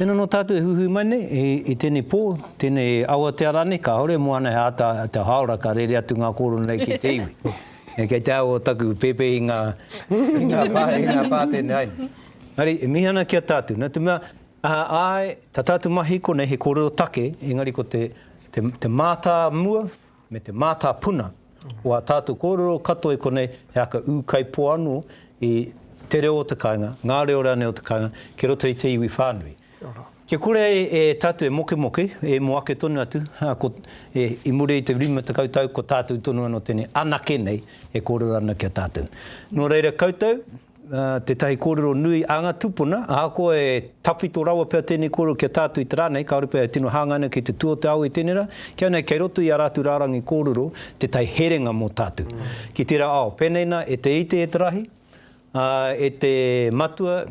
Tēnā nō tātou e huhui mai nei, i, i tēnei pō, tēnei awatea rānei, kāore e moana he āta te hāora ka rere atu ngā kōrero nei ki te iwi. e kei te aho taku pēpē i ngā, i ngā, pā, i ngā pātene ai. Engari, e mihi ana ki a tātou. Nā te mea, a, āe, tā tātou mahi konei he kōrero take, engari ko te, te, te mātāmua, me te mātāpuna o ā tātou kōrero katoa i konei, he aka ūkaipō anō i te reo o te kāinga, ngā reo rānei o te kāinga, ki roto i te iwi whānui. Kia kore ai e tātou e mokemoke, e mō ake tonu atu, i muri i te 50 tau, ko tātou tonu anō tēnei anake nei e kōrero ana ki a tātou. Nō reira koutou, Tētahi kōrero nui a ngā tūpuna, ahakoa e tawhito rawa pea tēnei kōrero ki a tātou i te rā nei, kāore pea e tino hāngai ana ki te tū o te ao i tēnei rā, kia nei kei roto i ā rātou rārangi kōrero tētahi herenga mō tātou ki tērā ao. Pēnei nā, e te ite e te rahi, e te matua,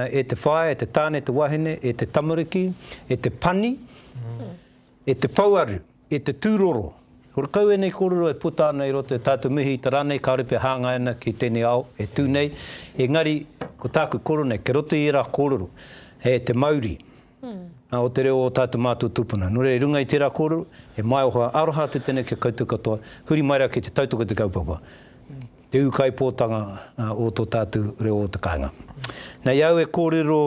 e te whaea, e te tāne, e te wahine, e te tamariki, e te pani, E te pouaru, e te tūroro. Horekau ēnei kōrero e puta ana i roto i tātou mihi i te rā nei, kāore pea hāngai ana ki tēnei ao e tū nei, engari ko tāku kōrero nei, kei roto i ērā kōrero, he te mauri o te reo o tātou mātou tūpuna. Nō reira, i runga i tērā kōrero, he maioha aroha atu tēnei ki a koutou katoa, huri mai rā ki te tautoko i te kaupapa, te ūkaipōtanga o tō tātou reo o te kāinga. Nei au e kōrero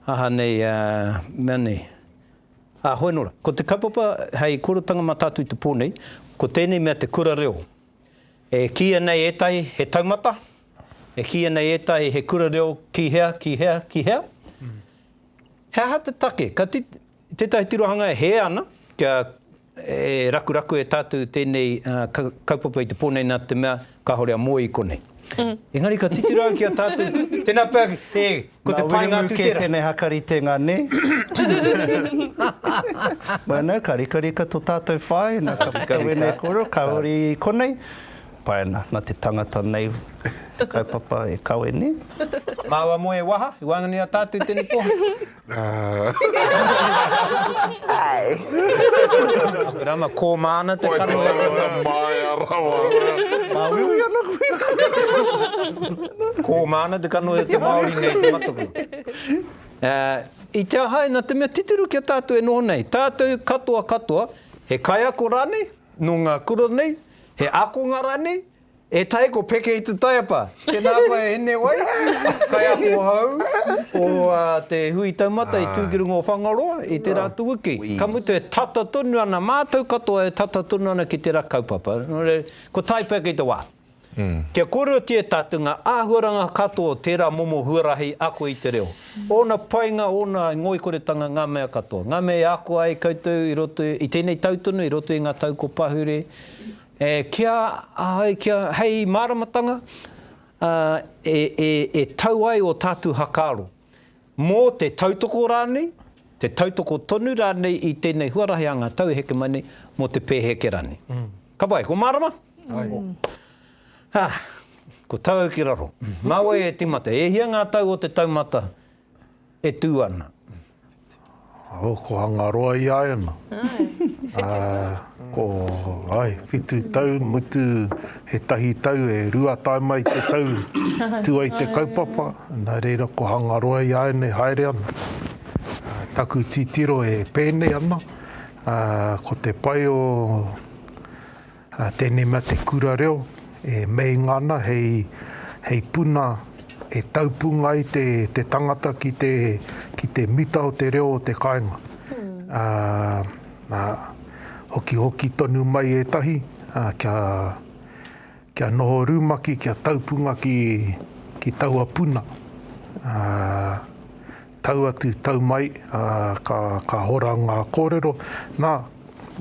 Aha nei a, mea nei, a hoi nora. Ko te kaupapa hei korotanga matatu i te po nei, ko tenei mea te kura reo. E kiia nei etahi he taumata, e kiia nei etahi he kura reo ki hea, ki hea, ki hea. He aha te take? Ka I tētahi tirohanga e hē ana kia e rakuraku e tātou tēnei kaupapa i te pō nei nā te mea kāore a Moe i konei. Engari ka titiro au ki a tātou, tēnā pea e, ko te pae ngā tū tērā. Nā Wiremu kē tēnei hakaritenga, nē? Bueno, ka rikarika tō tātou whāina, ka puta wēnei kōrero, ka huri i konei. Pai ana, nā te tangata nei te kaupapa e kawe, nē? Māua Moe e waha, i waenganui i a tātou tēnei pō. Rama, kō māna te kanohi. Wai tō ana māia rawa. Māuiui ana koe. Kō māna te kanohi o te Māori nei i te mataku. I te ahae nā te mea titiro ki a tātou e noho nei, tātou katoa katoa, he kaiako rānei, nō ngā kura nei, he ākonga rānei, E tai ko peke i te taiapa. Tēnā koe e hine wai, kaiako hou o te hui taumata i tū ki runga o Whangaroa i tērā atu wiki. Ka mutu e tata tonu ana, mātou katoa e tata tonu ana ki tērā kaupapa. Kua tae pea kei te wā. Kia kōrerotia e tātou ngā āhuaranga katoa o tērā momo huarahi ako i te reo. Ōna painga, ōna ngoikoretanga, ngā mea katoa. Ngā mea i ako ai koutou i roto i tēnei tau tonu, i roto i ngā tau kua pahure. E kīa ai kia hei māramatanga e tau ai ō tātou hakaaro, mō te tautoko rānei, te tautoko tonu rānei i tēnei huarahi a ngā tau e heke mai nei, mō te pēheke rānei. Ka pai, ko mārama? Ko tāu ki raro. Nā wai e tīmata, e hia ngā tau o te taumata E tū ana. Oh, ko Hangaroa i a Ena. Ai, whitu tau. Ah, ko, ai, whitu tau, mutu he tahi tau, e rua tae mai te tau, tū ai te kaupapa, nā reira ko Hangaroa i a Ena e haere ana. Taku titiro e pēnei ana, ah, ko te pai o, Tēnei mea te kura reo e meinga ana hei puna e taupunga ai te tangata ki te mita o te reo o te kāinga. Hokihoki tonu mai ētahi kia noho rumaki, kia taupunga ki taua puna. Tau atu, tau mai, ā, ka, ka hora ngā kōrero. Nā,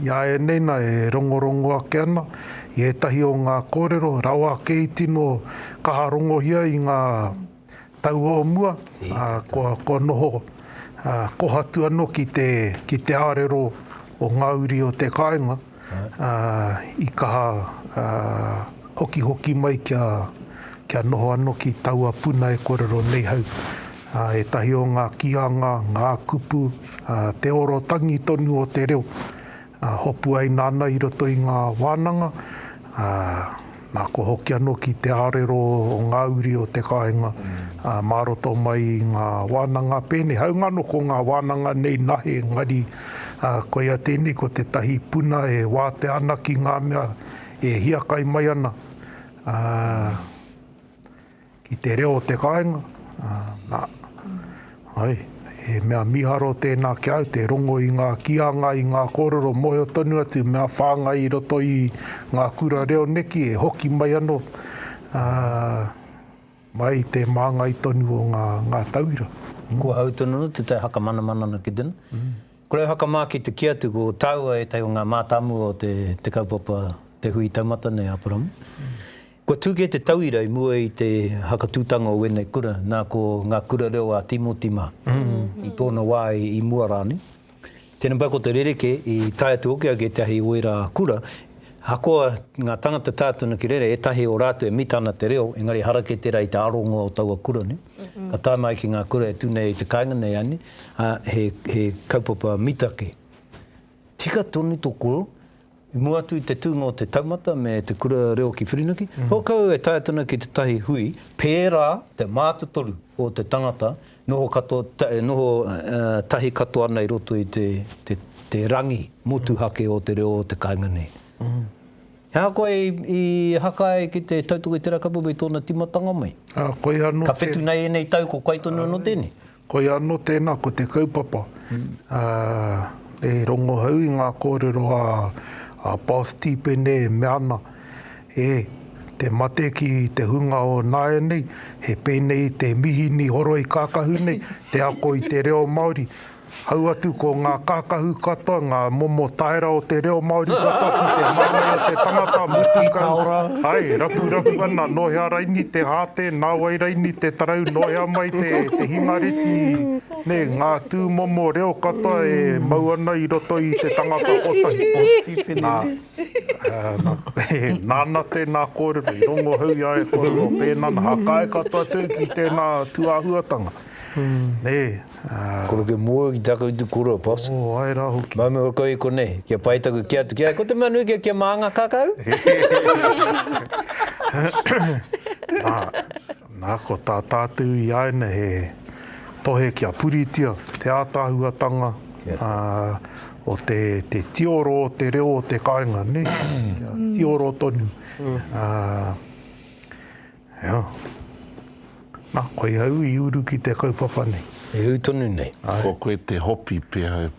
i a ēnei nā e rongorongo ake ana i ētahi o ngā kōrero rawa ake i tino kaha rongohia i ngā tau o mua, ā, kua, kua noho, ā, kohatu anō ki te, ki te ārero o ngā uri o te kāinga. i kaha hokihoki mai kia kia noho ano ki taua puna e korero nei hau. Etahi o nga kianga, nga kupu, te oro tangi tonu o te reo, hopu ai nana i roto i nga wananga, Nā, kua hoki anō ki te ārero o ngā uri o te kāinga, mā roto mai i ngā wānanga pēnei, hāunga anō ko ngā wānanga nei nahe, engari koia tēnei, ko tētahi puna e wātea ana ki ngā mea e hiakai mai ana. Ki te reo o te kāinga, nā, hai, he mea miharo tēnā ki au, te rongo i ngā kīanga, i ngā kōrero mōhio tonu atu, mea whāngai i roto i ngā kura reo neki e hoki mai anō, ā, mai i te māngai tonu o ngā, ngā tauira. Kua hau tonu anō tētahi whakamanamana ana ki tēnā. Kua rau whakamā ki te kī atu, ko tāua ētahi o ngā mātāmua o te, te kaupapa, te hui taumata nei a Aparamu. Kua tū kē te tauira i mua i te hakatūtanga o ēnei kura, nā ko Ngā Kura Reo a Tīmoti mā, i tōna wā i mua rānei. Tēnei pā ko te rerekē i tae atu hoki ai ki ētahi o ērā kura, ahakoa ngā tāngata tae atu ana ki reira, ētahi o rātou e mita ana te reo, engari harakē tērā i te aronga o taua kura nei. Ka tae mai ki ngā kura e tū nei i te kāinga nei a nei, he kaupapa mita kē. Tika tonu tō koro, I mua atu i te tūnga o te taumata me te kura reo ki Whirinaki, hokou e tae tonu ki tētahi hui pērā te mātotoru o te tangata noho katoa, noho tahi katoa ana i roto i te rangi motuhake o te reo o te kāinga nei. He aha koe i haka ai ki te tautoko i te rakapapu i tōna tīmatanga mai? Ka whetū nei ēnei tau ko kai tonu anō tēnei? Koia anō tēnā, ko te kaupapa, e rongohau i ngā kōrero a Paul Stepene e mea ana, e, te mate ki te hunga o nāianei, he pēnei te mihini horoi kākahu nei, te ako i te reo Māori, hau atu ko ngā kākahu katoa, ngā momo taera o te reo Māori katoa ki te māngai o te tangata, mutu kau, ae, rapurapu ana, nō hea raini te hā tēnā. Nā wai raini te tarau noea mai te te hingareti nē ngā tūmomo reo katoa e mau ana i roto i te tangata kotahi. Nā, nā, nāna tēnā kōrero i rongohau i a e kōrero pēnā nā, hakae katoa tēu ki tēnā tūāhuatanga, nē. Kore ke moe ki ta koutou koroua pos. Oh, ae ra hoki. Mai me ora kau i konei, kia pai taku kea atu ki ai, ko te mea nui kea kia maanga kakau. Na, na ko ta tatu i aina he tohe kia puritia te atahuatanga o te, te tioro o te reo o te kainga, ne? Kia tioro tonu. Hea. Na, koe au i uru ki te kaupapa nei. E ui tonu nei. Ko koe te hopi pea au.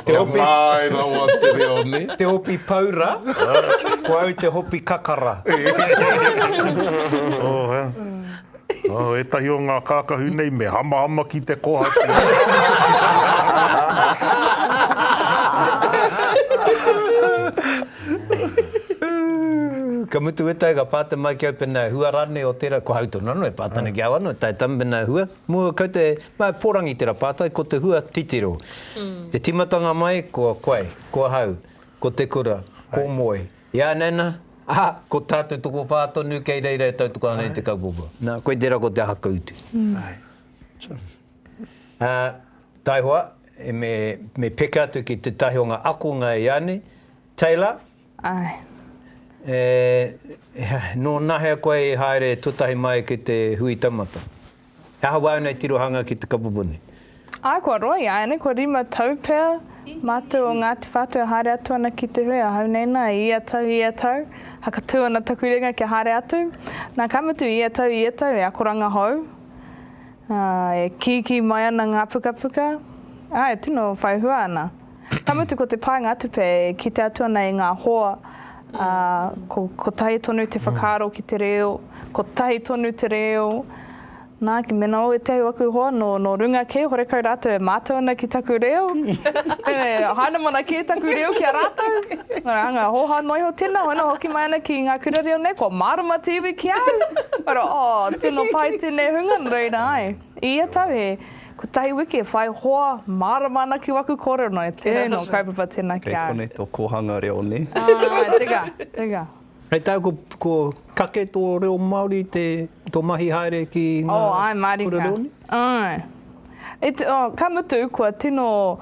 Te hopi. Ka tae rawa te reo nei. Te hopi paura, ko au te hopi kakara. Oh, hea. Oh, ētahi o ngā kākahu nei me hamahama ki te kohatu. Ka mutu weta e ka pāta mai ki au pena e hua rānei o tērā, ko au tonu anō e pāta ana ki au anō, tae tam pena e hua, mō kau te, mā e pōrangi tērā pātai, ko te hua titiro. Te tīmatanga mai, ko koe, ko ahau, ko te kura, ko Moe, Ianaina, ā, ko tā te tokowhā tonu kei reira e tautoko ana i te kaupapa. Nā, koe tērā ko te aha ka utu. Ā, taihoa, me, me peke atu ki tētahi o ngā akonga i a nei, Taylor. Āe. E, nō nahea koe i haere tuatahi mai ki te hui taumata? He aha wau nei tirohanga ki te kapupuni? Āe, kua roa ia, āianei kua rima tau pea mātou o Ngāti Whātua e haere atu ana ki te hui, ahau nei nā, i ia tau, i ia tau, hakatū ana taku ringa kia haere atu. Nā, ka mutu, i ia tau, i ia tau, he akoranga hou, ā, e kīkī mai ana ngā pukapuka, ā, e tino whai hua ana. Ka mutu ko te paenga tupe e kite atu ana i ngā hoa, ā, ko, kotahi tonu te whakaaro ki te reo, kotahi tonu te reo. Nā, mēnā o ētahi o aku hoa nō, nō runga kē, horekau rātou e mātau ana ki taku reo, e hainamana kē taku reo ki a rātou, ngā hanga hōhā noa iho tēnā, hoi nō hoki mai ana ki ngā kura reo nei, kua mārama te iwi ki a au! Kua rā, oh, tino pai tēnei hunga, nō reira, āe. I ia tau he kotahi wiki e whai hoa mārama ana ki waku kōrero nei, tēnā nō kaupapa tēnā ki a. Kei konei tō kōhanga reo nē? Āe, teka, teka. Hei tā, ko kake tō reo Māori te, tō mahi haere ki ngā kura reo nei? Āe. Ka mutu, kua tino.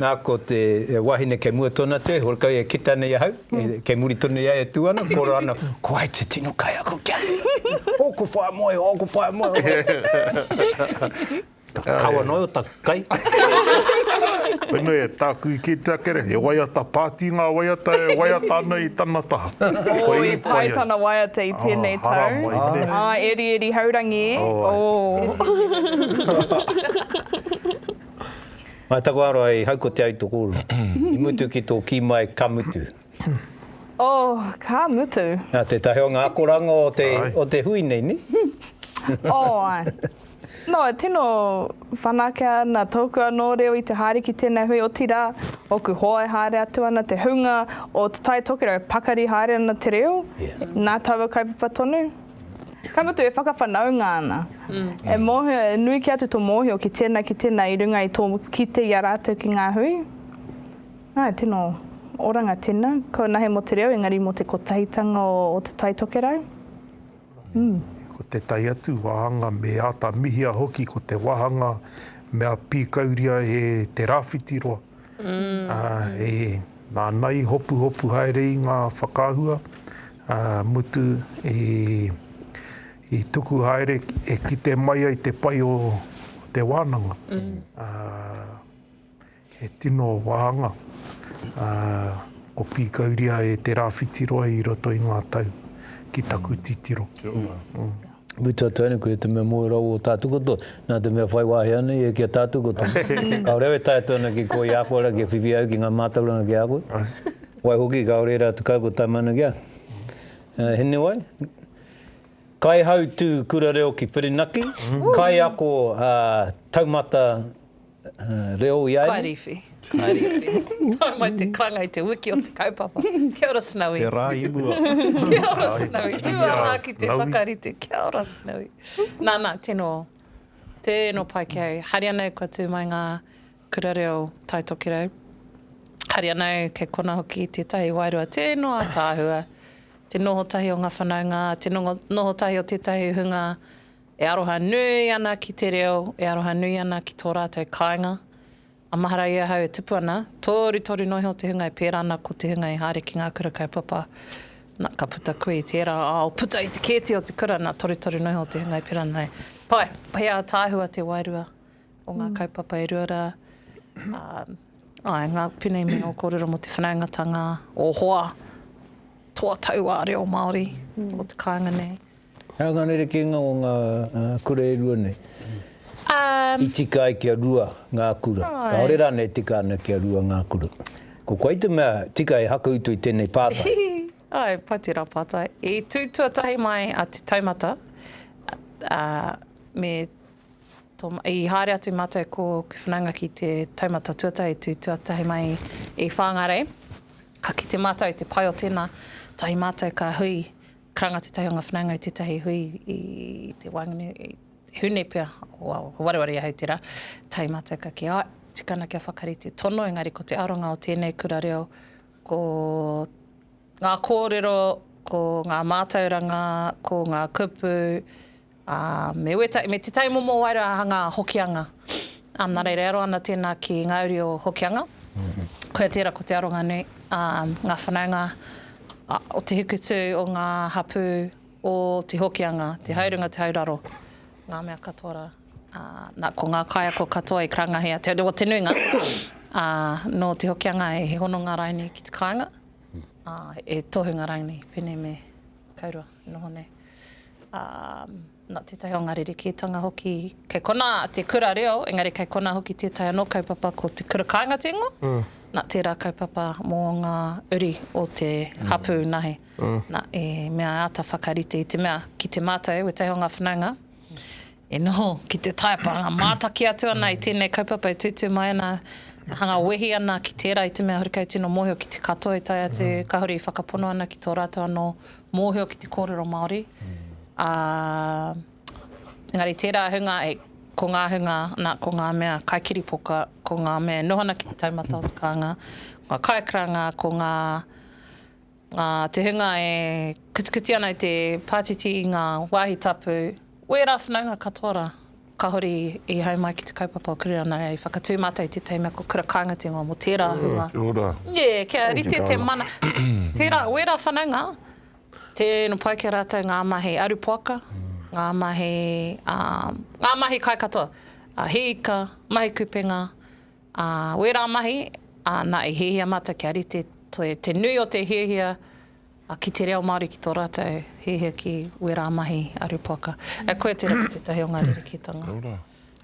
Na, ko te wahine kei mua tonu atu e, horekau e kita nei ahau, kei muri tonu i a ia e tu ana, koro ana, Ko wai te tino kaiako ki a koe? Oku whae moe, oku whae moe. Ka kaua noa o taku kai. Koinei e taku ike te akere, he waiata pāti ngā waiata e waiata ana i tana taha. Oh, i pai tana waiata i tēnei tau. Oh, haramai te. Ah, erieri haurangi. Oh, ai. Mai taku aroha i hau ko te aitokoro. I mutu ki to ki mai ka mutu. Oh, ka mutu. Na tetahi o nga akoranga o te, o te hui nei, ni? Oh, ae. No, e tino whanakea ana toku ano reo i te haere ki tenei hui, otira, oku hoa e haere atu ana, te hunga o Te Tai Tokerau, pakari haere ana te reo, na taua kaupapa tonu. Ka mutu e whakawhanaunga ana. E mōhio, e nui kē atu tō mōhio ki tēnā, ki tēnā i runga i tō kite i a rātou ki ngā hui. Āe, tino oranga tēnā. Kua nahe mō te reo, engari mō te kotahitanga o Te Tai Tokerau. Ū. Ko tētahi atu wāhanga me āta mihia hoki ko te wāhanga mea pīkauria e te rāwhiti roa. Āe, nāna i hopuhopu haere i ngā whakaahua, ā, mutu i tuku haere e kite mai ai te pai o te wānanga. Ā, he tino wāhanga, ā, ko Pīkauria e te rāwhiti roa i roto i ngā tau, ki taku titiro. Kia ora. mutu atu ai nei, koia te mea moe rawa o tātou katoa, nā te mea whai wāhi ana ia ki a tātou katoa. Kāore au e tae atu ana ki kō i a koe rā, kia whiwhi ai ki ngā mātauranga ki a koe. Waihoki, kāore ērā atu kākau tae mai ana ki a koe. He nui wai? Kaihautū Kura Reo ki Whirinaki, kaiako taumata reo i a ēnei? Kaiwhiwhi, kaiwhiwhi. Tau mai te karanga i te wiki o te kaupapa. Kia ora Snowy. Te rā i mua. Kia ora Snowy. Rua rā ki te whakarite. Kia ora Snowy. Nā, nā, tēnō. Tēnō pai ki au. Haere anō kua tū mai ngā kura reo Tai Tokerau. Haere anō kei kona hoki tētahi wairua. Tēnō ataahua. Te noho tahi o ngā whanaunga, te noho tahi o tētahi hunga. E aroha nui ana ki te reo, e aroha nui ana ki tō rātou kāinga. A mahara i ahau e tupu ana, tōru toru noa iho te hunga e pērā ana ko te hunga i haere ki ngā kura kaupapa. Na, ka puta koe i tērā ao, puta i te kēti o te kura, na, torutoru noa iho te hunga i pērā ana nei. Pai, he ātaahua te wairua o ngā kaupapa e rua rā. Āe, ngā pēnei mea o kōrero mō te whanaungatanga, o hoa, toa tauā reo Māori o te kāinga nei. He aha ngā rerekēnga o ngā kura e rua nei? I tika ai kia rua ngā kura. Kāore rānei e tika ana kia rua ngā kura? Ko koe te mea tika e hakautu i tēnei pātai. Āe, pai tērā pātai. I tū tuatahi mai a Te Taumata, ā, me tō, i haere atu mātou ko Whanaunga ki Te Taumata tuatahi, tū tuatahi mai i Whāngārei. Ka kite mātou i te pai o tēnā, tahi mātou ka hui, Karanga tētahi o ngā whanaunga i tētahi hui i te waenkne, he hune pea, ko wareware i ahau tērā, tae mātou ka kī, āe, tikana kia whakarite tono, engari ko te aronga o tēnei kura reo, ko ngā kōrero, ko ngā mātauranga, ko ngā kupu, Ā, me weta, me Te Tai Momo wai rā ngā Hokianga. Ā, nā reira e aro ana tēnā ki ngā uri o Hokianga. Koia tērā ko te aronga nui. Ā, ngā whanaunga o te hikutū, o ngā hapū, o te Hokianga, te haurunga, te hauraro, ngā mea katoa rā. Ā, nā, ko ngā kaiako katoa i karangahia, te, o te nuinga, ā, nō te Hokianga he hononga rauni ki te kāinga, ā, he tohunga rauni, pēnei me. Kei roa, noho nei. Ā, nā tētahi o ngā rerekētanga hoki, kei konā te kura reo, engari kei konā hoki tētahi anō kaupapa ko te kura kāinga te ingoa, nā tērā kaupapa mō ngā uri o te hapū nāhi. Nā, e mea e āta whakarite i te mea, ki te mātau, wētahi o ngā whanaunga, E noho ki te taepa hanga mātaki atu ana i tēnei kaupapa e tūtū mai ana, hanga wehi ana ki tērā i te mea horekau tino mōhio ki te katoa e tae atu, kāore i whakapono ana ki tō rātou anō mōhio ki te kōrero Māori. Ā, engari tērā ahunga, ko ngā ahunga, nā, ko ngā mea kai kiripoka, ko ngā mea e noho ana ki te taumata o te kānga, ko ngā kaikaranga, ko ngā Nā te hunga e kutikuti ana i te pātiti i ngā wāhi tapu, o ērā whanaunga katoa rā, kāore i hae mai ki te kaupapa o Kurera nā reira i whakatū mātou i tētahi mea ko Kura Kāinga te ingoa mō tērā hunga. Kia ora. Nē, kia rite te mana. Tērā, o ērā whanaunga, tēnō pai ki a rātou ngā mahi arupoaka, ngā mahi, ngā mahi kai katoa, hīika, mahi kupenga, Ā, wērā mahi, ā, nā, e hiahia mātou kia rite toi te nui o te hiahia ki te reo Māori ki tō rātou hiahia ki wērā mahi a Rupoaka. E, koia tērā ko tētahi o ngā rerekētanga. Nō rā.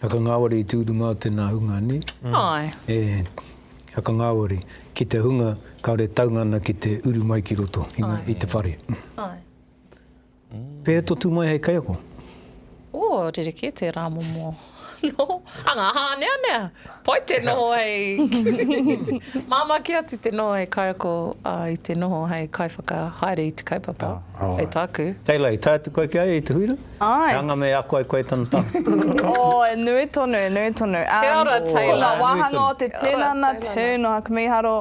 Hakangāwari i tū runga o tēnā hunga, nē? Āe. E, hakangāwari, ki te hunga kāore taunga ana ki te uru mai ki roto i te whare. Āe. Pēhea tō tū mai hei kaiako? Oh, rerekē te rā momo noho. Hanga hāneanea! Pai te noho hei... Māmā kē atu te noho hei kaiako i te noho hei kaiwhakahaere i te kaupapa, hei tāku. Teila, i tae atu koe ki a ia i te huira? Āe. He anga me ako ai koe i tana taha? Oh, e nui tonu, e nui tonu. Kia ora, Teila. Ko ngā wāhanga o te tinana, tuna, ka mīharo.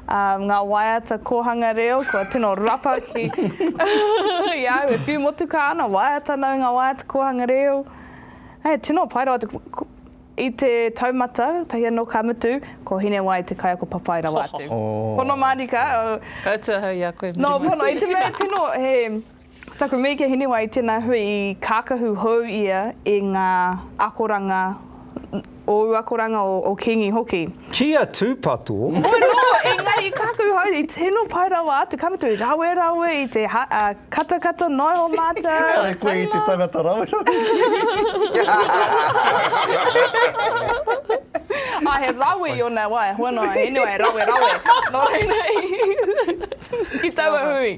um, ngā waiata kōhanga reo, kua tino rapa ki i au, e whiu motu kā ana, waiata nau ngā waiata kōhanga reo. Hei, tino pai rawa, i te taumata, tahi anō ka mutu, ko Hinewai te kaiako papai rawa atu. Oh. Pono Marika. Oh. Koutou hau i a koe. No, pono, i te mea tino, he, Ko taku mihi ki a Hinewai, tēnā hui i kākahu hou ia i ngā akoranga, ōu akoranga, o Kingi hoki. Ki a Tūpato. Oi nō, engari i kākahu hou, i tino pai rawa atu, ka mutu, rawerawe i te katakata noa iho mātou. Engari koe i te tangata rawerawe ki. Ā, he rawe i ōna wā, e hoa noa a Hinewai, rawerawe, nō reira i, ki taua hui.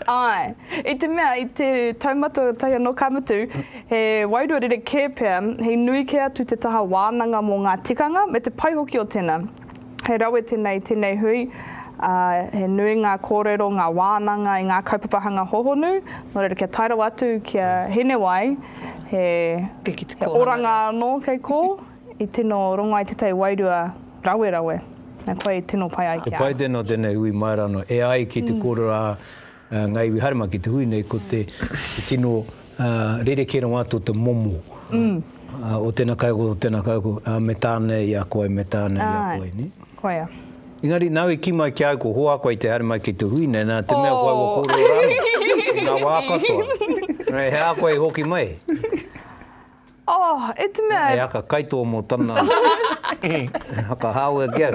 Āe. I te mea, i te taumata tahi anō ka mutu, he wairua rerekē pea, he nui kē atu te taha wānanga mō ngā tikanga me te pai hoki o tēnā. He rawe tēnei i tēnei hui, ā, he nui ngā kōrero, ngā wānanga i ngā kaupapa hanga hōhonu, nō reira kia tae rawa atu ki a Hinewai, he oranga anō kei kō. I tino rongo ai tētahi wairua rawerawe, na koe i tino pai ai ki a. He pai tēnā o tēnei hui Maeranoo e ai ki te kōrero a Ngā Iwi haere mai ki te hui nei, ko te tino rerekē rawa atu o te momo o tēnā kaiako, o tēnā kaiako, me tāne i a koe, me tāne i a koe, nē? Āe, koia. Engari nāu i kī mai ki a au ko hoa koe i te haere mai ki te hui nei, nā te mea ko au a kōrero rānei i ngā wā katoa. He aha koe i hoki mai? Oh, e te mea. He haka kaitō mō tana haka hāwea ki au.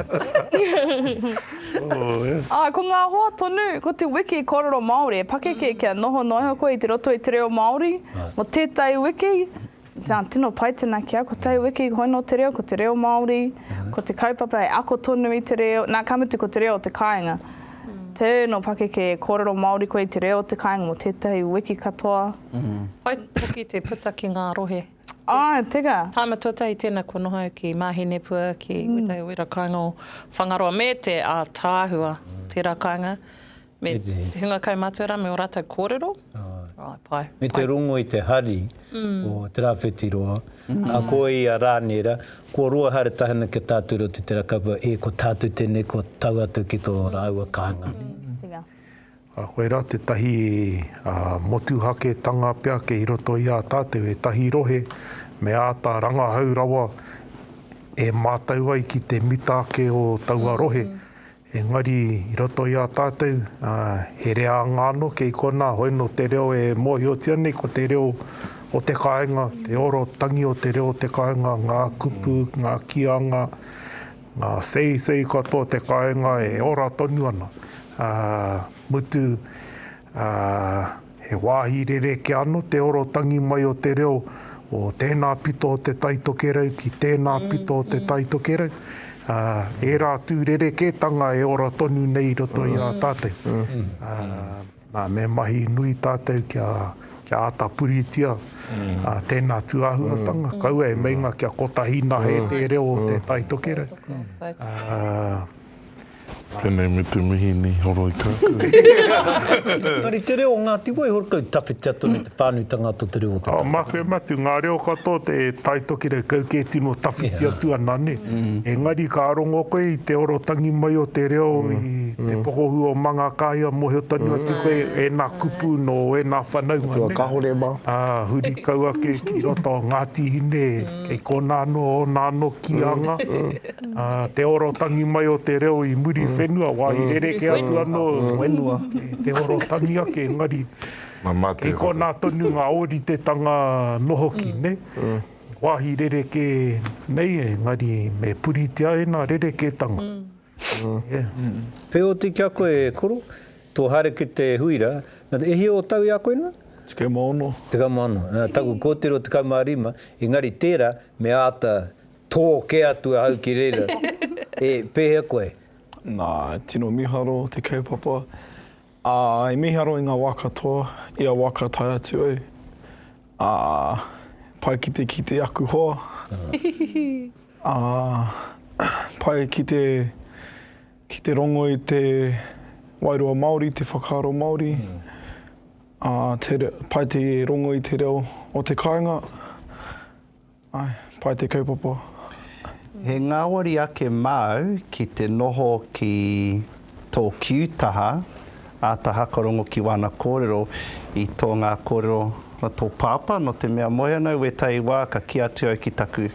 Oh, yeah. Ah, ko ngā hoa tonu, ko te wiki kōrero Māori e pakeke kia noho noa iho koe i te roto i te reo Māori, mō tētahi wiki, nā, tino pai tēnā ki au, ko tētahi wiki hoi nō te reo, ko te reo Māori, ko te kaupapa e ako tonu i te reo, nā, ka mutu ko te reo o te kāinga. Tēnō pakeke e kōrero Māori koe i te reo o te kāinga mō tētahi wiki katoa. Whai hoki te puta ki ngā rohe. Āe, teka. Tāima tuatahi tēnā kua noho au ki Māhinepua, ki wētahi wera kāinga o Whangaroa, me te ātaahua o tērā kāinga, me te hunga kaumātua rā, me ō rātou kōrero. Āe, pai. Me te rongo i te hari o Te Rāwhitiroa, a ko ia rānei rā, kua roa haere tahi ana ki a tātou reo te tera kaupapa, e ko tātou tēnei kua tau atu ki tō rāua kāinga. Teka. A koirā tētahi motuhaketanga pea kei roto i a tātou ētahi rohe me āta rangahau rawa e mātau ai ki te mita ake o taua rohe. Engari i roto i a tātou he reanga anō kei konā hoi nō te reo e mōhiotia nei ko te reo o te kāinga, te oro tangi o te reo o te kāinga, ngā kupu, ngā kīanga, Ngā seisei katoa o te kāinga e ora tonu ana, ā, mutu, ā, he wāhi rerekē anō te oro tangi mai o te reo o tēnā pito o Te Tai Tokerau ki tēnā pito o Te Tai Tokerau, ā, ērā atu rerekētanga e ora tonu nei i roto i a tātou. Nā, me mahi nui tātou kia, kia āta puritia tēnā tūāhuatanga, kaua e meinga kia kotahi nahe te reo o te Tai Tokerau. Tēnei me te mihi ni Horoi Kākau. Engari te reo o Ngāti Wai, Horoi Kākau, tawhitia tonu. Pānuitanga to te reo o te tangata. Make matu nga reo katoa te taitokirakau ke tino tawhiti atu ana ne. Engari ka rongo koe i te orotangi mai o te reo i te pokohu o Mangakahia mohio tonu atu koe ena kupu no ena whanaunga ne. Kahore ma. A huri kau ake ki roto o Ngati Hine kei kona ano ona ano kianga a te orotangi mai o te reo i muri whenua wa i rereke atu ano whenua te orotangi ake engari Kei konā tonu ngā ōritetanga nohoki, nē? Wāhi rerekē nei, engari me puritia ēnā rerekētanga. Wheoti ki a koe e koro, tō haere ki te huira, e hia o tau i a koe nā? Tekau ma ono. Tekau ma ono. Taku kōtiro tekau ma rima, engari tērā me āta tō kē atu ahau ki reira, e, pēhea koe? Nā, tino miharo te kaupapa. Ā, i miharo i ngā wā katoa, i a waka tae atu au, ā, pai ki te kite aku hoa, ā, pai ki te, ki te rongo i te wairua Māori, te whakaaro Māori, ā, te, pai te rongo i te reo o te kāinga. Ae, pai te kaupapa. He ngāwari ake māu ki te noho ki tō Kiu taha, āta hakarongo ki wāna kōrero i tō ngā kōrero a tō pāpā, nō te mea moe ana au wētahi wā ka kī atu au ki taku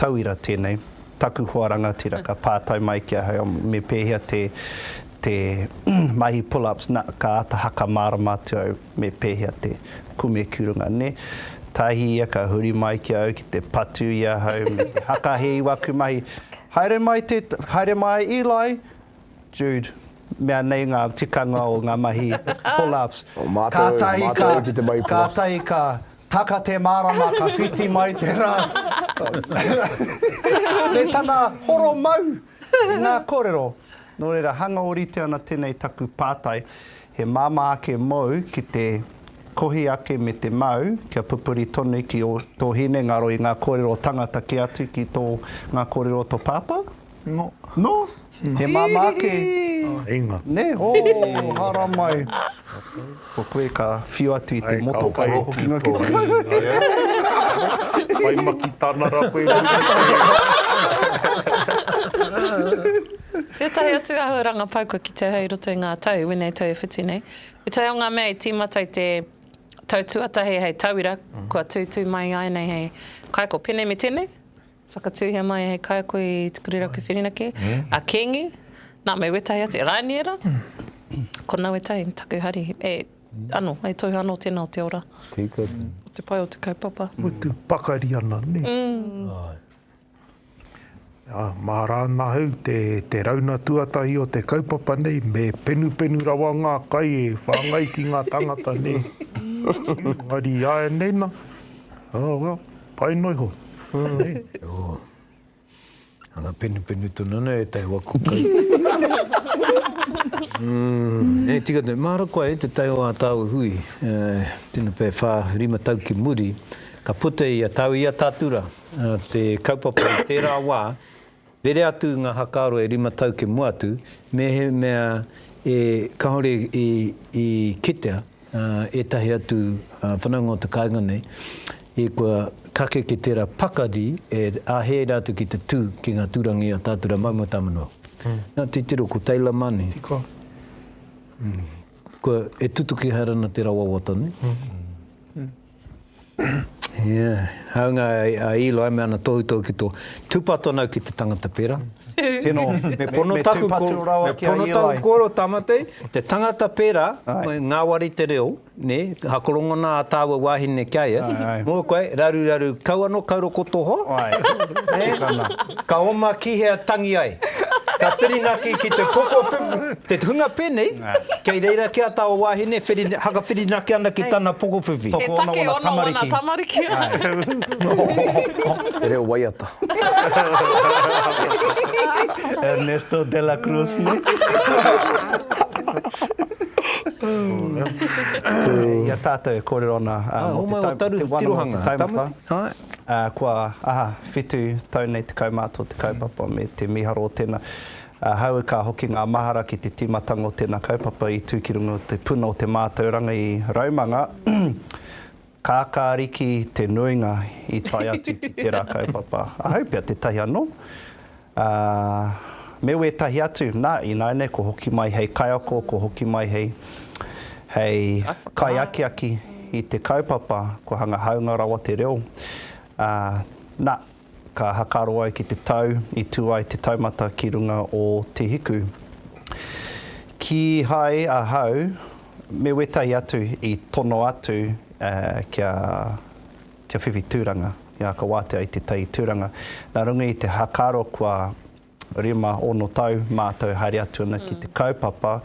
tauira tēnei, taku hoa rangatira ka pātai mai ki ahau me pēhea te te mahi pull-ups, na, ka āta haka mārama atu au. me pēhea te kume ki runga nē. Tahi ia ka huri mai ki a au ki te patu i ahau me te haka he iwaku mahi. Haere mai te, haere mai Eli, Jude, mea nei ngā tikanga o ngā mahi pull-ups. O mātou, o mātou au ki te mahi pull-ups. Kātahi ka, kātahi ka taka te mārama ka whiti mai te rā. Me tana horo mau! I ngā kōrero, nō reira, hanga ōrite ana tēnei taku pātai, he māmā ake mōu ki te kohi ake me te mau, kia pupuri tonu ki ō tō hinengaro i ngā kōrero o tangata kē atu ki tō ngā kōrero o tō pāpā? Nō. Nō? He māmā ake. Inga. Nē? Ō, haramai. Ko koe ka whiu atu i te motoka e hoki noa ki te mahi. Whai maki tana ra koe Muriwhiri. Tētahi atu āhuaranga pai kua kitea hei roto i ngā tau, wēnei tau e whiti nei. Ētahi o ngā mea i tīmata i te tau tuatahi hei tauira kua tūtū mai i āianei hei kaiko pēnei me tēnei, Whakatūhia mai hei kaiako i Te Kuriraku Whirinaki, a Kīngi, nā, me wētahi atu, e Rāniera, ko Nawe Tai, taku hari, e, anō, e tohu anō tēnā o te ora. Tika atu. O te pai o te kaupapa. Mutu pakari ana, nē? Āe. Ā, māra ana au te, te rauna tuatahi o te kaupapa nei, me penupenu rawa ngā kai e whāngai ki ngā tāngata, nē? Engari i āianei nā, oh well, Pai noa iho. Ana penupenu tonu ana e tai waku kai. Hei tika tonu. Mahara koe e te tai o a taua hui. Tino pe wha rima tau ki muri ka puta ia tau ia tatura te kaupapa i tera wa Rere atu ngā hakaaro e rima tau ki mua atu, mehemea e kāore i kitea ētahi atu whanaunga o te kāinga nei i kua kake ki tērā pakari e āhei ai rātou ki te tū ki ngā tūranga i a tātou rā maumau tāmanu au. Nā, titiro, ko Taylor Mani. Tiko. Kua, e tutuki haere ana te rawa wawata nei. Ia, hāunga a Eli me ana tohutohu ki tō, tūpato ana au ki te tangata pērā. Tino, me pono taku ko, me pono taku kōrero Tāmati, te tangata pērā, ngāwari te reo, nē, hakorongona a tāua wāhine ki a ia, mō koe, raruraru kau anō, kau rokoto hō, ka oma ki hea tangi ai, ka whirinaki ki te pokowhiwhi, te hunga pēnei, Kei reira ki a taua wahine, whiri, hakawhirinaki ana ki tana pokowhiwhi. He take ono wana tamariki. He reo waiata. Ernesto de la Cruz, ne? I a tatou e korero ana mo te tau, te wano mo te taumata. Kua aha, whitu tau nei te kaumātua o te kaupapa me te miharo o tena. Ahau ka hoki ngā mahara ki te tīmatanga o tēnā kaupapa i tū ki runga o te puna o te mātauranga i Raumanga, Kākāriki te nuinga i tae atu ki tērā kaupapa. Ahau pea tētahi anō, ā, me wētahi atu, nā, ināianei kua hoki mai hei kaiako, kua hoki mai hei, hei kaiakiaki i te kaupapa, kua hanga hāunga rawa te reo, ā, nā. Ka hakaro ai ki te tau i tū ai te taumata ki runga o Te Hiku. Kīhai ahau me wetahi atu i tono atu kia whiwhi tūranga, kia aka wātea i te tai tūranga. Nā runga i te hakaro kua Rima, ono tau mātou haere atu ana ki te kaupapa,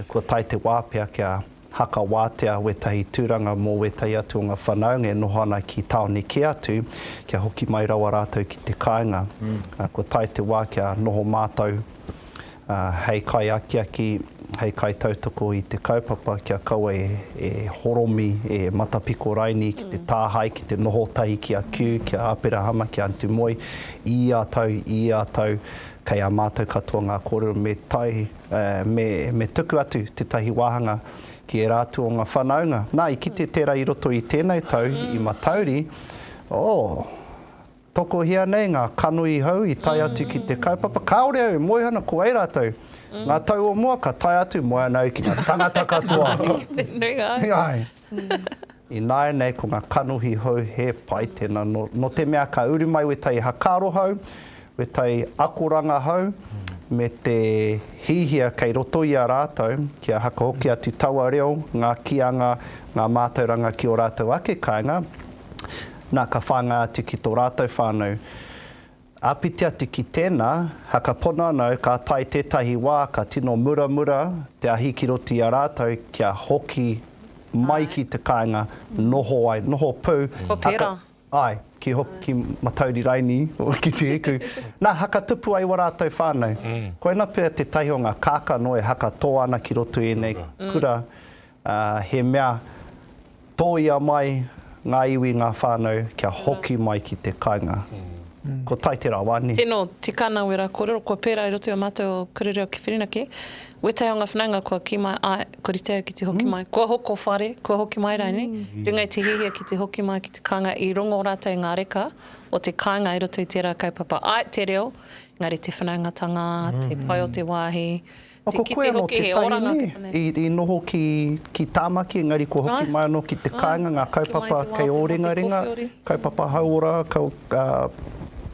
kua tae te wā pea kia hakawatea wētahi tūranga mō wētahi atu o ngā whanaunga e noho ana ki tāone kē atu, kia hoki mai rawa rātou ki te kāinga. Kua tae te wā kia noho mātou hei kaiakiaki hei kaitautoko i te kaupapa kia kaua e horomi, e matapiko raini ki te tāhae, ki te noho tahi ki a Kew, ki a Aperahama, ki a Anti Moe, i ia tau, i ia tau, kei a mātou katoa ngā kōrero me tae, me tuku atu tētahi wāhanga ki ērā atu o ngā whānaunga. Nā, i kite tērā i roto i tēnei tau, i Matauri, oh, Tokohia nei ngā kanohi hou i tae atu ki te kaupapa, kāore au e moe ana ko ai rātou, ngā tau o mua ka tae atu, moe ana au ki ngā tangata katoa. Te nuinga ai. Āe. Ināianei ko ngā kanohi hou he pai tēnā, nō, nō te mea ka uru mai wētahi hakaaro hou, wētahi akoranga hou, me te hihia kei roto i a rātou, kia haka hoki atu taua reo, ngā kīanga, ngā mātauranga ki ō rātou ake kāinga, Na, ka whānga atu ki tō rātou whānau. Āpiti atu ki tēnā, hakapono ana au ka tae tētahi wā ka tino muramura te ahi ki roto i a rātou kia hoki mai ki te kāinga noho ai, noho pū. Ko Pera. Āe, ki hoki ki Matauri Raini, ki Te Hiku. Na, hakatupu ai ua rātou whānau. Koina pea tētahi o ngā kākano e haka tō ana ki roto i ēnei kura. He mea tōia mai ngā iwi, ngā whānau kia hoki mai ki te kāinga. Ko tai te rawa, nē? Tēnō, tikana wera kōrero kua pērā i roto i ō mātou o Kura Reo ki Whirinaki. Wētahi o ngā whanaunga kua kī mai, āe, kua rite au ki te hoki mai, kua hoko whare, kua hoki mai rānei, ringa i te hiahia ki te hoki mai ki te kāinga, i rongo rātou i ngā reka o te kāinga i roto i tērā kaupapa. Āe, te reo, engari te whanaungatanga, te pai o te wāhi, Ko koe anō te tahine i noho ki Tāmaki, engari kua hoki mai anō ki te kāinga, ngā kaupapa kei Ōringaringa, kaupapa hauora,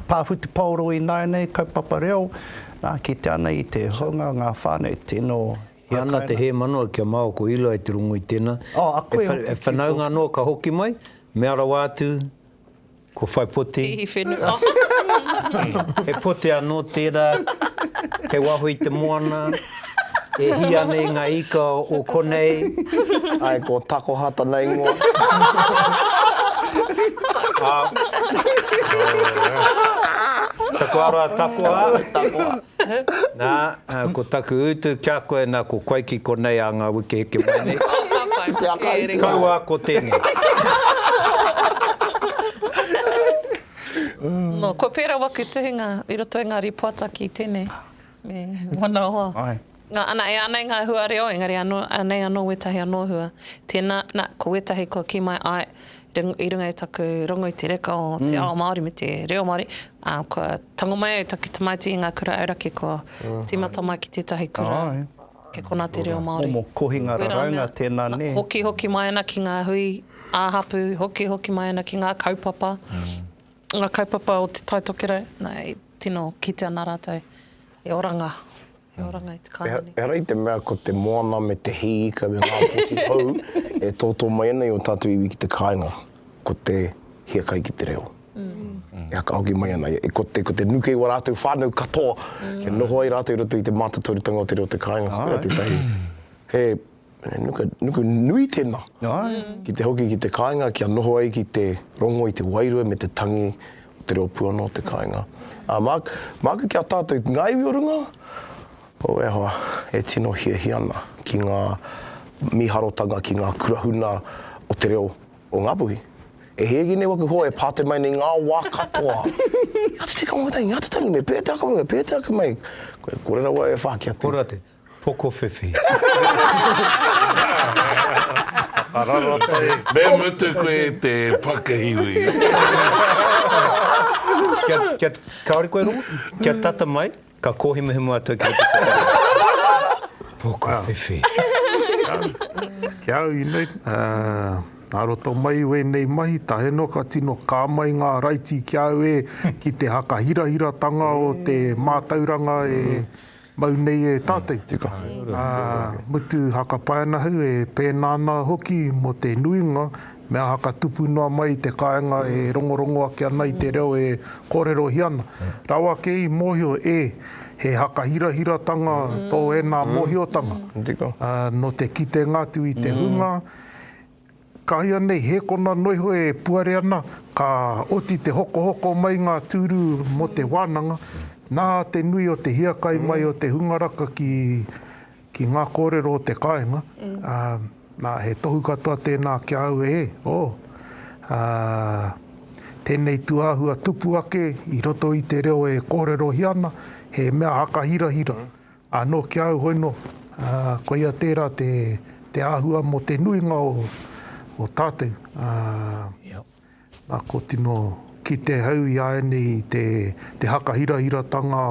pā whutupaoro ināianei, kaupapa reo, nā, kitea ana i te hunga o ngā whānau, tino hiakai. He ana te hēmanawa ki a māua ko Eli i te rongo i tēnā, e whanaunga anō ka hoki mai, mea rawa atu, Ko whai poti. Hihi whenua. He poti anō tērā, kei waho i te moana, e hī ana i ngā ika o konei. Āe, ko takoha tana ingoa. Takoha rā, takoha. Takoha. Nā, ko taku utu kia koe nā ko koe ki konei ā ngā wiki heke mai nei. Kaua ko tēnei. Nō, kua pērā waku tuhinga i roto i ngā rīpoata ki tēnei me Manawa. Nā, ana, e anei ngā hua reo, engari anō, anei anō wētahi anō hua. Tēnā, nā, ko wētahi kua kī mai, āe, i runga i taku rongo i te reka o te ao Māori me te reo Māori, ā, kua tango mai au taku tamaiti i ngā kura auraki, kua tīmata mai ki tētahi kura kei konā te reo Māori. Momo kohinga raraunga tēnā, nē? Hokihoki mai ana ki ngā hui ā-hapū, hokihoki mai ana ki ngā kaupapa, ngā kaupapa o Te Tai Tokerau, nā, e tino kite ana rātou he oranga. he oranga i te kāinga. Ehara i te mea ko te moana me te hī ika me ngā poti hou e tōtō mai ana i ō tātou iwi ki te kāinga, ko te hiakai ki te reo. E whakahoki mai ana, ko te, ko te nuke i wā rātou whānau katoa, kia noho ai rātou i roto i te mātotorutanga o te reo o te kāinga, koia tētahi, he He nuku, nuku nui tēnā. Ai. Ki te hoki ki te kāinga, kia noho ai ki te rongo i te wairua me te tangi o te reo puana o te kāinga. Ā, mā, māku ki a tātou, ngā iwi o runga, o, e hoa, e tino hiahia ana ki ngā mīharotanga, ki ngā kurahuna o te reo o Ngāpuhi. E hēgi nei waku hoa e pātai mai nei ngā wā katoa. Ngā te tikanga o te tangi, ngā te tangi, me pēhea te akomanga, me pēhea te ake mai. Koe, kore rawa e whāki atu. Kore atu. Pokowhiwhi. Me mutu koe te pakihiwi. Kia, kāore koe rongo? Kia tata mai, ka kōhimuhimu atu au ki roto ki te reo. Pokowhiwhi. Ki a au i nei, a roto mai i wēnei mahi, tae noa ka tino kā mai ngā raiti ki a au e, ki te hakahirahiratanga o te mātauranga e Mau nei e tātou. Tika. Ā, mutu hakapai ana ahau e pēnā ana hoki mō te nuinga mea haka tupu noa mai i te kāinga e rongorongo ake ana i te reo e kōrerohia ana. Rawa kē i mōhio e, he haka hirahiratanga tō ēnā mōhiotanga. Tika. Nō te kitenga atu i te hunga, Ka hia nei, he kona noiho e puare ana, ka oti te hokohoko mai ngā tūru mō te wānanga, nā te nui o te hiakai mai o te hunga raka ki ki ngā kōrero o te kāinga, ā, nā, he tohu katoa tēnā ki a au, ē, ō, ā, tēnei tūāhua tupu ake i roto i te reo e kōrerohia ana, he mea haka hirahira. Anō ki au hoino, koia tērā te āhua mō te nuinga o tātou. Nā, kua tino kite au i āianei i te hakahirahiratanga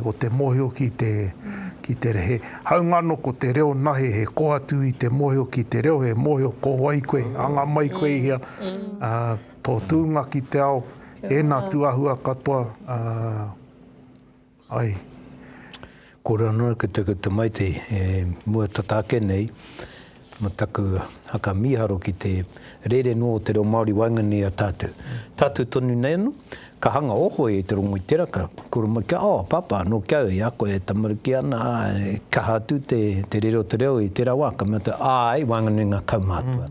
o te mōhio ki te reo. He haunga anō ko te reo nahe, he koa atu i te mōhio ki te reo, he mōhio ko wai koe, anga mai koe i hea, tō tūnga ki te ao, ēnā tū āhua katoa. Ai. Kōrero noa ki te ki te Maiti e mua tata ake nei ma taku haka miharo ki te rere noa o te reo Māori waenganui i a tātou. Tātou tonu nei ano, ka hanga ohoi e te rongo i te raka, kura mai kia, oh, pāpā, nō ki au, i a koe e tamariki ana, āe, kaha atu te, te rere o te reo i tērā wā, ka mea te, āe, waenganui i ngā kaumātua.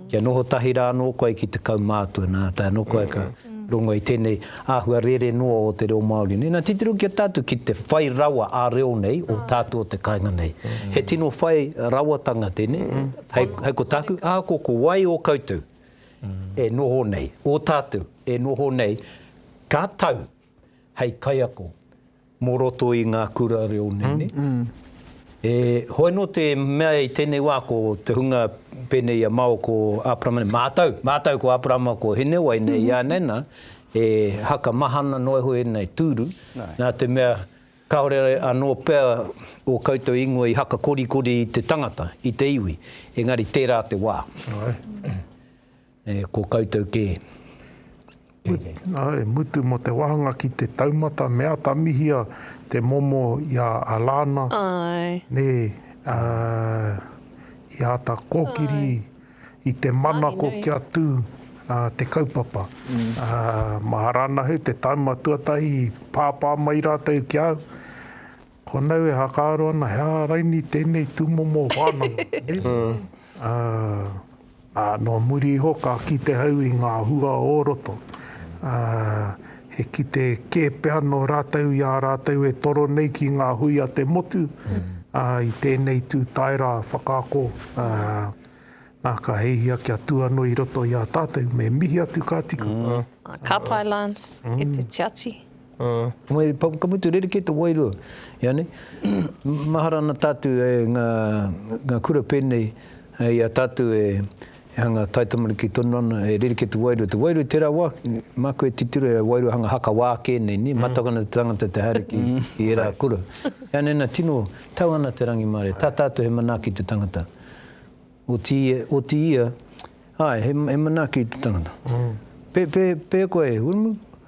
Kia noho tahi rā anō koe ki te kaumātua, nā, tae anō koe ka rongo i tēnei, Āhua rere noa o te reo Māori nei. Nā, titiro ki a tātou ki te whai rawa ā-reo nei o tātou o te kāinga nei. He tino whai rawatanga tēnei, hei, hei ko tāku, ahakoa ko wai o koutou e noho nei, o tātou e noho nei, ka tau hei kaiako. Mō roto i ngā kura reo nene. E hoi anō te mea i tēnei wā ko te hunga pēnei i a Mao ko Aperama nei, mātau, mātau ko Aperama ko Hinewai nei i a Nana, e haka maha ana noa iho ēnei tūru, nā te mea kāore anō pea ō koutou ingoa i haka korikori i te tangata, i te iwi, engari tērā te wā. E ko koutou kē. Āe, mutu mō te wāhanga ki te taumata me atamihia te momo i a Alana, nē, ā, i āta kōkiri i te manako kia tū te kaupapa. Mā Arana Heu te tāima tuatahi i pāpā mai rātou ki a au. Konau e whakaaro ana he aha raini tēnei tūmomo whānanga, nē? Ā, nō muri iho ka kite au i ngā hua o roto. Ā, he kite kē pea nō rātou i a rātou e toro nei ki ngā hui a te motu, ā, i tēnei tū tae rā whakaako, ā, nā ka heihia kia tū anō i roto i a tātou, me mihi atu ka tika. Ka pai Lance, e te tiati. Wai, ka mutu rerekē te wairua. Ianei, mahara ana tātou e ngā kura pēnei i a tātou e hanga taitamariki tonu ana, e rerekē te wairua. Te wairua i tērā wā, māku e titiro i a wairua hanga haka wā kē nei, nē, mātau ana te tangata te haere ki ērā kura. Ianei nā, tino tau ana te rangimārie, tā tātou he manaaki te tangata. Otiia, āe, he manaaki te tangata. Pēhea koe, Wiremu?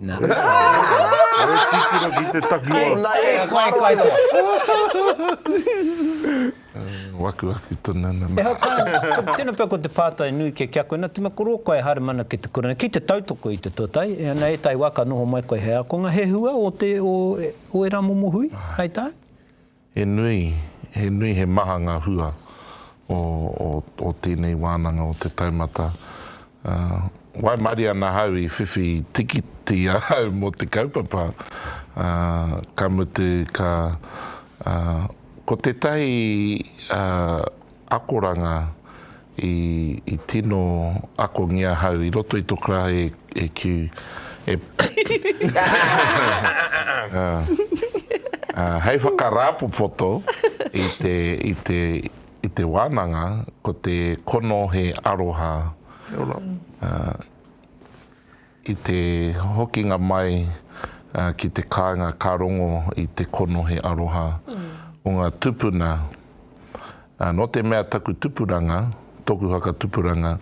Nā. Kare titiro ki te takiwa. Ko nā e koe koe to. Waku aku to nana ma. Ehau kai, tena pea ko te pātai nui ke kia koe na tima ko rō koe e haere mana ki te kurina, ki te tautoko i te tuatai, e ana ētahi wā ka noho mai koe he ākonga, he hua o te, o, o era momo hui, hai tā? He nui, he nui, he maha ngā hua o tēnei wānanga o te taumata. Waimarie ana hau i whiwhi tikiti ahau mō te kaupapa, ka mutu ka, ko tētahi akoranga i tino akongia ahau i roto i to karahi e kiu e hei whakarāpopoto i te wānanga ko te kono he aroha kia ora. I te hokinga mai ki te kāinga ka rongo i te konohi aroha o ngā tupuna. Nō te mea taku tupuranga, tōku whakatupuranga,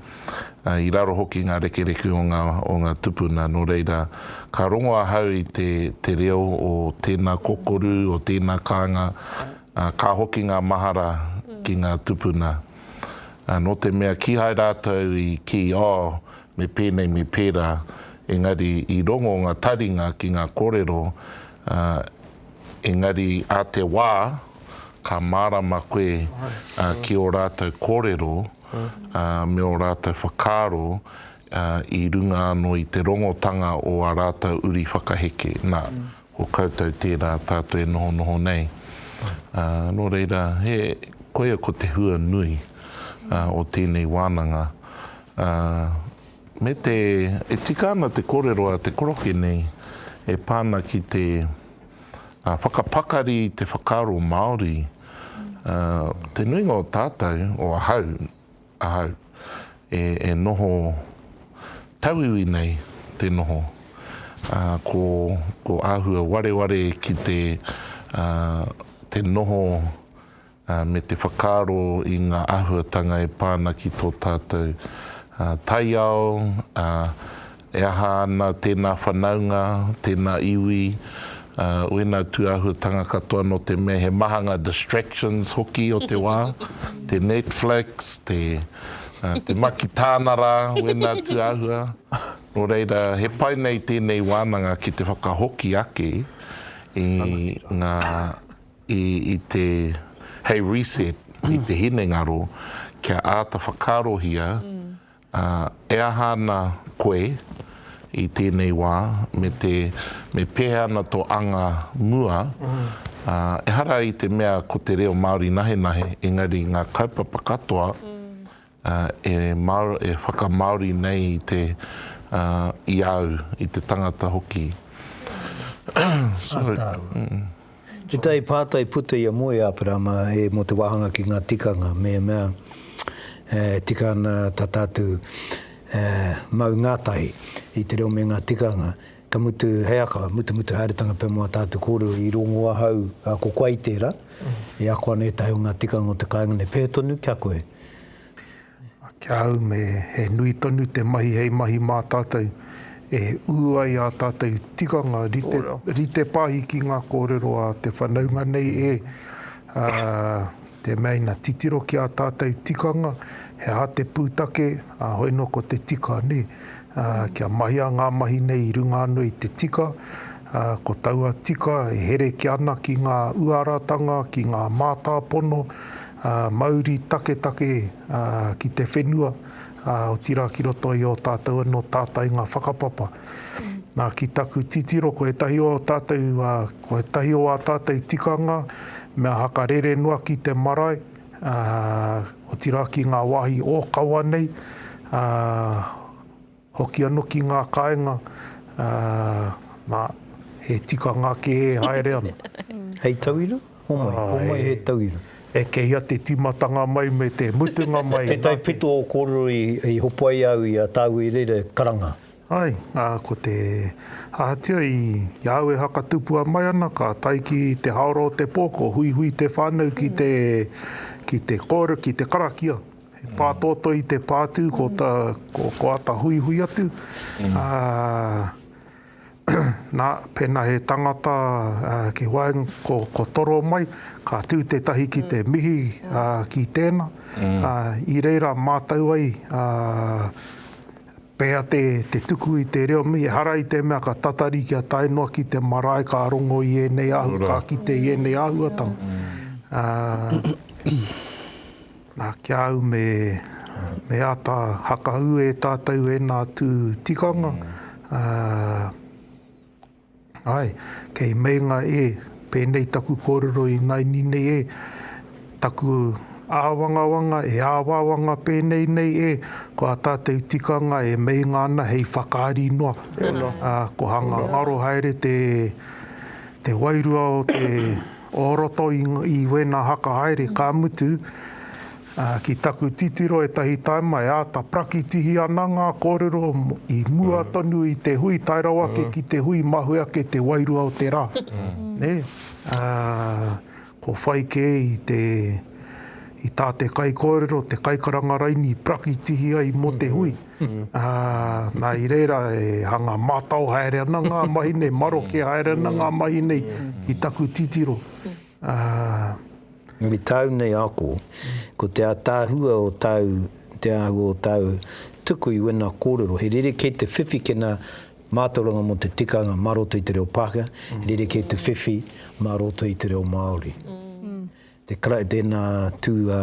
i raro hoki ngā rekereke o ngā o ngā tupuna, nō reira, ka rongo ahau i te te reo o tēnā kokoru, o tēnā kāinga, ka hoki ngā mahara ki ngā tupuna. Nō te mea kīhai rātou i kī, oh, me pēnei me pērā, engari i rongo ngā taringa ki ngā kōrero, ā, engari ā te wā ka mārama koe ki ō rātou kōrero me ō rātou whakaaro i runga anō i te rongotanga o ā rātou uri whakaheke. Nā, Ko koutou tērā tātou e nohonoho nei. Nō reira, he koia ko te hua nui o tēnei wānanga. Me te, e tika ana te kōrero a te koroke nei e pā ana ki te whakapakari i te whakaaro Māori. Te nuinga o tātou, o ahau, Ahau, e, e noho tauiwi nei te noho, ā, ko, ko āhua wareware ki te, ā, te noho, ā, me te whakaaro i ngā āhuatanga e pā ana ki tō tātou, ā, taiao, ā, He aha ana tēnā whanaunga, tēnā iwi, wēnā tūāhuatanga katoa nō te mea he maha ngā distractions hoki o te wā, te Netflix, te te makitāna rā, wēnā tūāhua. Nō reira, he pai nei tēnei wānanga ki te whakahoki ake i ngā, i, i te, hei reset i te hinengaro kia āta whakaarohia Ā, e aha ana koe i tēnei wā, me te, me pēhea ana tō anga mua, ā, ehara i te mea ko te reo Māori nahenahe, engari ngā kaupapa katoa, ā, e māo, e whakamāori nei i te, ā, i au, i te tangata hoki. Ā tāua. He tai pātai puta ia moe Aperama e mō te wāhanga ki ngā tikanga me mea e tika ana ta tātou e mau ngātahi i te reo me ngā tikanga ka mutu he aka mutumutu haeretanga pea mō a tātou kōrero i rongo ahau a ko koe i tērā e ako ana ētahi o ngā tikanga o te kāinga nei pēhea tonu kia koe? Ki a au me he nui tonu te mahi hei mahi mā tātou e ū ai ā tātou tikanga rite pāhi ki ngā kōrero a te whanaunga nei e, ā, te mea ina titiro ki ā tātou tikanga, he aha te pūtake, ā, hoi nō ko te tika, nē. Ā, kia mahia ngā mahi nei i runga anō i te tika, ā, ko taua tika e herekia ana ki ngā uaratanga, ki ngā mātāpono, Mauri taketake ki te whenua, otirā ki roto i ō tātou anō tātainga whakapapa. Nā, ki taku titiro, ko ētahi o ō tātou, ko ētahi o ā tātou tikanga, mea haka rere noa ki te marae, otirā ki ngā wāhi ōkawa nei, Hoki ano ki nga kaenga, na, he tikanga ke e haere ana. Hei tauira? Homai, homai he tauira. E kei ia te timatanga mai me te mutunga mai. Tetahi pito o korero i hopo ai au i a Tau i reira karanga. Ai, a, ko te, ahatia i a au e hakatupua mai ana, ka tae ki te haora o te po, ko Huihui te whanau ki te, ki te kore, ki te karakia. He pātoetoe i te pātū, ko, ta, ko, ko ata huihui atu. Mm. Uh, nā, pēnā he tangata uh, ki waenga, ko, ko toro mai, ka tū tētahi ki te mm. mihi uh, ki tēnā. Mm. Uh, I reira mātau ai, uh, pēa te, te tuku i te reo mi, e hara i te mea ka tatari ki a tae noa ki te marae, ka rongo i ēnei ahu, ka ki te i ēnei ahuatanga. Mm. Uh, Na ki a au me me ata hakahu e tatou ena atu tikanga, ae, kei meinga e, penei taku korero inaini nei e, taku awangawanga e awawanga penei nei e, ko a tatou tikanga e meinga ana hei whakaari noa, ko hanga ngaro haere te te wairua o te O roto i wena haka haere ka mutu, ki taku titiro etahi taima e ata prakitihi ana nga korero i mua tonu i te hui tae rawa ake ki te hui mahue ake te wairua o te ra. Ko whai ke i ta te kaikorero, te kaikaranga raini i prakitihi ai mo te hui. ā, nā, i reira e hanga mātao haere ana ngā mahi nei, maroke haere ana ngā mahi nei ki taku titiro, ā. I tāu nei ako, ko te ātaahua o tāu, te āhua o tāu tuku i wēnā kōrero, he rerekē te whiwhi ki ngā mātauranga mō te tikanga mā roto i te reo Pākehā, he rerekē te whiwhi mā roto i te reo Māori. Te Karaiti tēnā tū a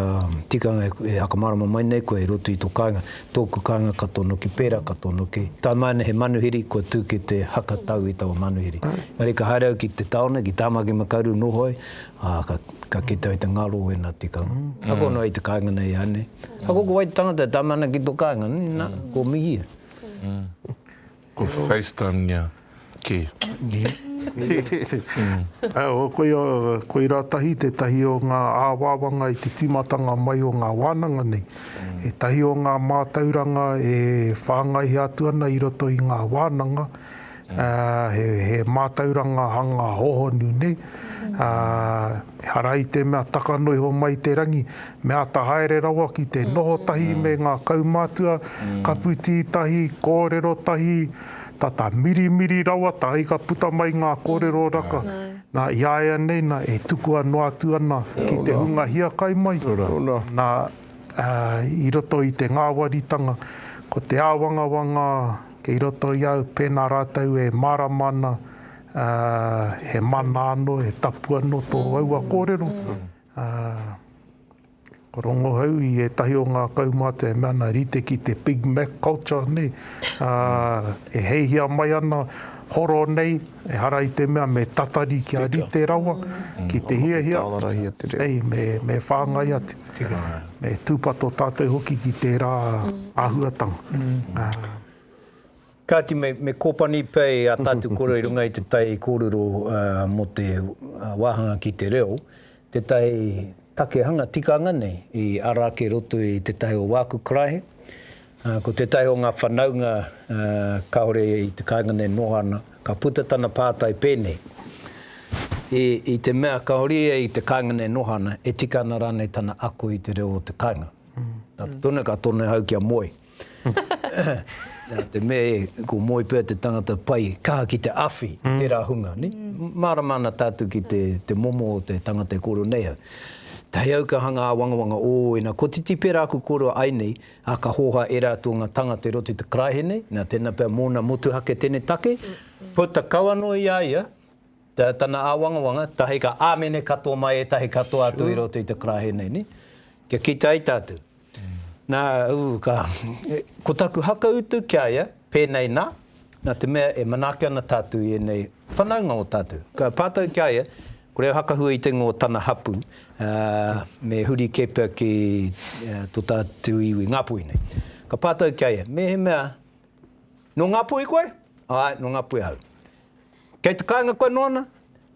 tikanga e whakamārama mai nei koe i roto i tō kāinga, tōku kāinga ka tono ki pērā ka tono ki tae mai ana he manuhiri kua tū ki te haka tau i taua manuhiri. Engari ka haere au ki te taone, ki Tāmaki Makaurau noho ai, ā, ka, ka kite au i te ngaro o ēnā tikanga. Ako noa i te kāinga nei ānei. Ako ko wai te tangata e tama ana ki tō kāinga, nā, ko Mihia. Kua facetimea ke. Koirā tahi tētahi o ngā āwāwanga i te tīmatanga mai o ngā wānanga nei. Ētahi o ngā mātauranga e whāngaihia atu ana i roto i ngā wānanga, he mātauranga hanga hohonu nei, ehara i te mea takano iho mai te rangi, Me āta haere rawa ki te noho tahi me ngā kaumātua, kapu tī tahi, kōrero tahi, tata mirimiri rawa, tāi ka puta mai ngā kōrero raka, nā, i a ia nei nā, e tukua noa atu ana ki te hunga hiakai mai, nā, i roto i te ngāwaritanga, ko te āwangawanga kei roto i a au, pēnā rātou e mārama ana he mana anō, he tapu anō tō aua kōrero, Ā, ka rongo au i ētahi o ngā kaumātua e mea ana, rite ki te Big Mac culture, nē, ā, e heihia mai ana, horo nei, ehara i te mea me tatari kia rite rawa ki te hiahia, hei, me whāngai atu, me tūpato tātou hoki ki tērā āhuatanga. Kāti, me kōpani pea ā tātou koro i runga i te tai kōrero mō te wāhanga ki te reo, tētahi take hanga tikanga nei i ara ake roto i tētahi o wāku karaehe. Ko tētahi o ngā whanaunga kāore i te kāinga nei noho ana, ka puta tana pātai pēnei, I te mea kāore ia i te kāinga nei noho ana, e tika ana rānei tana ako i te reo o te kāinga? Nā te tono ka tono ahau kia moe. Nā te mea e, ko Moe pea te tangata pai kaha ki te awhi i tērā hunga, nē. Mārama ana tātou ki te, te momo o te tangata e kōrero nei au. He auka hanga āwangawanga, ō, ina kotiti pērā aku kōrero ai nei, ā, ka hōhā e rātou ngā tāngata i roto i te karaehe nei, nā, tēnā pea mōna motuhake tēnei take, puta kau anō i a ia tā, tana āwangawanga, tahi ka āmene katoa mai ētahi katoa atu i roto i te karaehe nei, nē. Kia kite ai tātou. Nā, ū, ka, ko taku hakautu ki a ia, pēnei nā, nā te mea e manaaki ana tātou i ēnei whanaunga o tātou. Ka pātau ki a ia, ko reo hakahua i te ngō tana hapū, ā, me huri kē pea ki tō tātou iwi Ngāpuhi nei. Ka pātau ki a ia, Mehemea, nō Ngāpuhi koe? Āe, nō Ngāpuhi ahau. Kei te kāinga koe nōna?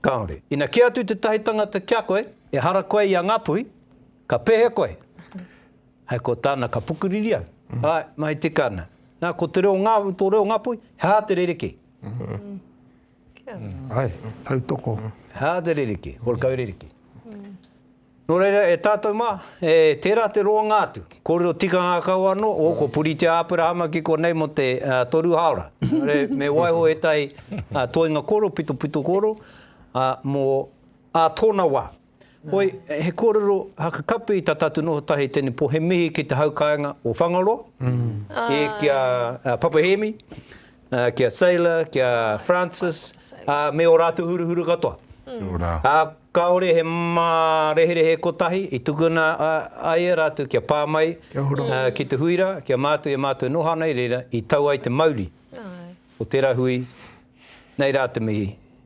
Kāore. Ina kī atu tētahi tangata ki a koe, Ehara koe i a Ngāpuhi, ka pēhea koe? Hei ko tāna, Ka pukuriri au. Āe, mahi tika ana. Nā, ko te reo ngā, tō reo Ngāpuhi, he aha te rerekē? Āe, tautoko. He aha te rerekē? Horekau rerekē. Nō reira, e tātou mā, e tērā te roanga atu. Kōrero tikanga kau anō, o, ko Puritia Āperahama ki konei mō te toru hāora. Engari me waiho ētahi toenga kōrero, pitopito kōrero, mō ā tōna wā. Hoi, he kōrero hakakapi i tā tātou noho tahi tēnei pō, he mihi ki te haukāinga o Whangaroa, e, ki a Papa Hēmi, Ki a Sailor, ki a Francis, ā, me ō rātou huruhuru katoa. Kia ora. Ā, kāore he māreherehe kotahi i tukuna ai e rātou kia pā mai ki te hui rā, ki a mātou e mātou noho ana i reira, i tau ai te mauri o tērā hui, nei rā te mihi.